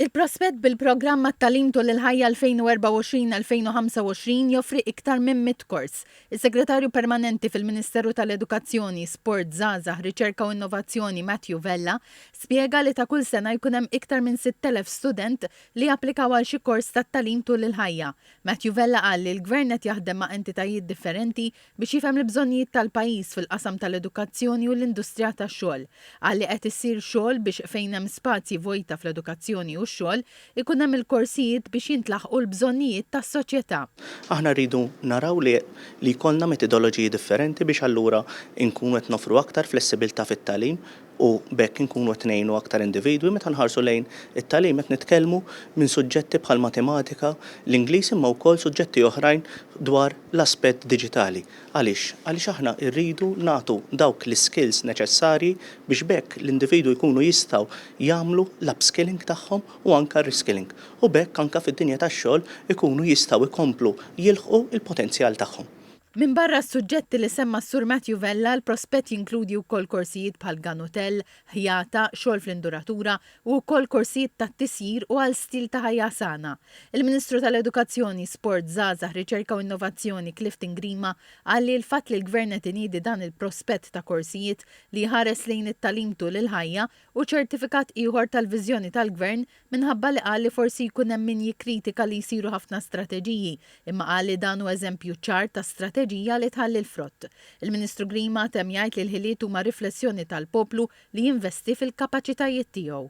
Il-prospett bil-programm għat-Tagħlim Tul il-Ħajja 2024-2025 joffri iktar minn mitt kors. Is-Segretarju Permanenti fil-Ministeru tal-Edukazzjoni, Sport, Żgħażagħ, Riċerka u Innovazzjoni Matthew Vella spjega li ta' kull sena jkun hemm iktar minn 6,000 student li japplikaw għal xi kors tat-tagħlim tul il-ħajja. Matthew Vella qal li l-Gvern qed jaħdem ma' entitajiet differenti biex jifhem l-bżonnijiet tal-pajjiż fil-qasam tal-edukazzjoni u l-industrija tax-xogħol, qal li qed issir xogħol biex fejn hemm spazji vojta fl-edukazzjoni u x-xogħol, ikun hemm il-korsijiet biex jintlaħqu l-bżonnijiet tas-soċjetà. Aħna rridu naraw li li jkollna metidoloġiji differenti biex allura nkunu qed noffru aktar flessibilità fit-tagħlim, u b'hekk inkunu qed ngħinu aktar individwi. Meta nħarsu lejn it-tagħlim qed nitkellmu minn suġġetti bħall-matematika, l-Ingliż imma wkoll suġġetti oħrajn dwar l-aspett diġitali. Għaliex? Għaliex aħna rridu nagħtu dawk l-iskills neċessarji biex b'hekk l-individwi jkunu jistgħu jagħmlu l-upskilling tagħhom u anke r-reskilling u b'hekk anke fid-dinja tax-xogħol ikunu jistgħu jkomplu jilħqu l-potenzjal tagħhom. Minbarra s-suġġetti li semma s-Sur Matthew Vella, l-prospett jinkludi wkoll korsijiet bħal gun hotel, ħjata, xogħol fl-induratura u wkoll korsijiet tat-tisjir u għal stil ta' ħajja sana. Il-Ministru tal-Edukazzjoni, Sport, Żgħażagħ, Riċerka u Innovazzjoni, Clifton Grima, qal li l-fatt li l-Gvern qed iniedi dan il-prospett ta' korsijiet li jħares lejn it-tagħlim tul il-ħajja, u ċertifikat ieħor tal-viżjoni tal-Gvern minħabba li qal li forsi jkun hemm min jikkritika li jsiru ħafna strateġiji imma qal li dan hu eżempju ċar ta' strateġija li tħalli l-frott. Il-Ministru Grima temm jgħid li l-ħiliet huma riflessjoni tal-poplu li jinvesti fil-kapaċitajiet tiegħu.